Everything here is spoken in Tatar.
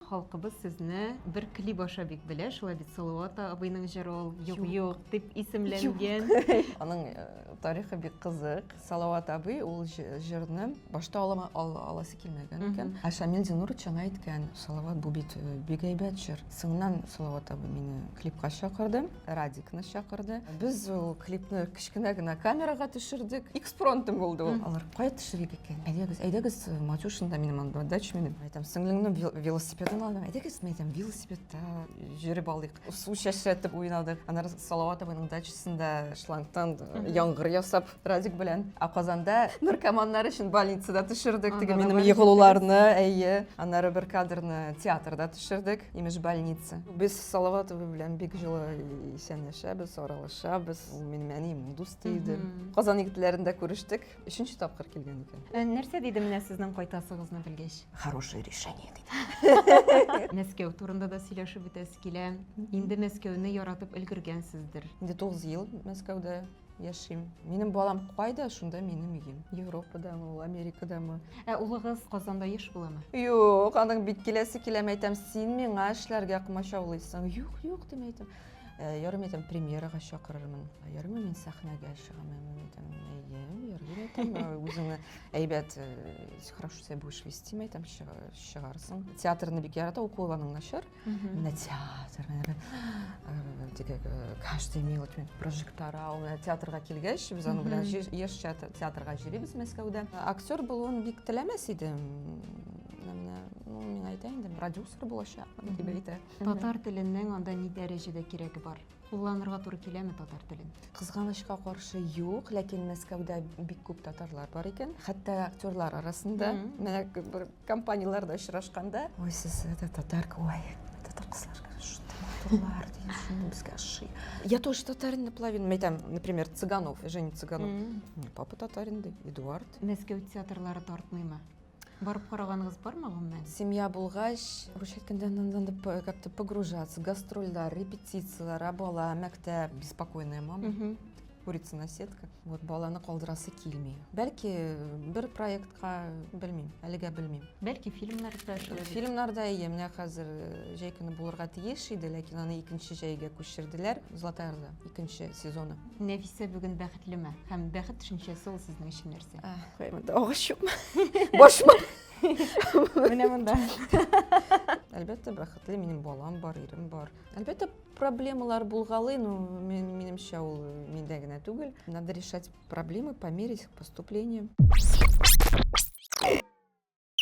Халкыбыз сезне бер клип аша бик белә, шулай бит Салават абыйның җыры ул Юк, юк дип исемләнгән. Аның э, тарихы бик кызык. Салават абый ул җырны башта алама аласы килмәгән икән. Ә Шамил Зинурович аңа әйткән, Салават бу бит э, бик әйбәт җыр. Соңыннан Салават абый мине клипка чакырды. Радикны чакырды. Без ул клипны кечкенә генә камерага төшердек. Экспронтым булды ул. Алар кая төшерик икән? Әйдәгез, әйдәгез, Матюшинда минем анда дач минем. Әйтәм, сеңлеңнең велосипедын алдым. Әйдәгез, әйтәм, велосипедта йөреп алыйк. Су чәчрәтеп уйнадык. Аннары Салаватованың дачасында шлангтан яңгыр ясап Радик белән Аказанда наркоманнар өчен больницада төшердек. Теге минем егылуларны, әйе. Аннары бер кадрны театрда төшердек, имеш больница. Без Салаватов белән бик җылы исәнләшәбез, аралашабыз. Ул минем әнием, дус иде. Казан егетләрендә күрештек. Өченче тапкыр килгән икән. Ә нәрсә диде менә сезнең кайтасыгызны белгәч? Хорошее решение диде. Мәскәү турында да сөйләшеп үтәсе килә. Инде Мәскәүне яратып өлгергәнсездер. Инде 9 ел Мәскәүдә яшим. Минем балам кайда, шунда минем өем. Европадамы ул, Америкадамы? Ә улыгыз Казанда еш буламы? Юк, аның бит киләсе киләм әйтәм, син миңа эшләргә комачаулыйсың. Юк, юк дим әйтәм. Ә, ярым әйтәм, премьерага чакырырмын. Ә, ярым мин сәхнәгә чыгам, әмин әйтәм, әйе, ярым әйтәм, ә, үзеңне әйбәт, э, хорошо себя будешь вести, әйтәм, чыга- чыгарсың. Театрны бик ярата, укуланың начар. Угу. На театр, э, теге, э, каждый мелочь, прожектора, ул э, театрга килгәч, без аны белән еш театрга җөрибез Мәскәүдә. Актер булуын бик теләмәс идем. Менә, ну, мин әйтә инде, продюсер булачакмын дип әйтә. Татар теленең анда ни дәрәҗәдә кирәге бар? Кулланырга туры киләме татар телен? Кызганычка каршы юк, ләкин Мәскәүдә бик күп татарлар бар икән, хәтта актерлар арасында, менә бер компанияләрдә очрашканда, ой, сез это татарка, ой, татар кызлар, шундый матурлар, дигән безгә ошый. Я тоже татарин наполовину, әйтәм, например, Цыганов, Женя Цыганов, папа татарин ди, Эдуард. Мәскәү театрлары тартмыймы? Барып караганыгыз бармы гомумән? Семья булгач, русча әйткәндә надо как-то погружаться, гастрольләр, репетицияләр, ә бала, мәктәп, беспокойная мама. Курица на сетка. Вот баланы калдырасы килми. Бәлки бер проектка белмим, әлегә белмим. Бәлки фильмнар да эшләр. Фильмнар да ие, менә хәзер э, җәй көне булырга тиеш иде, ләкин аны икенче җәйгә күчерделәр. Золотая Орда икенче сезоны. Нәфисә бүген бәхетлеме? Һәм бәхет төшенчәсе ул сезнең өчен Куймады. Агачым. Башма. Менә монда. Әлбәттә, бәхетле минем балам бар, ирем бар. Әлбәттә, проблемалар булгалый, но мен, минемчә ул миндә генә түгел. Надо решать проблемы по мере их поступления.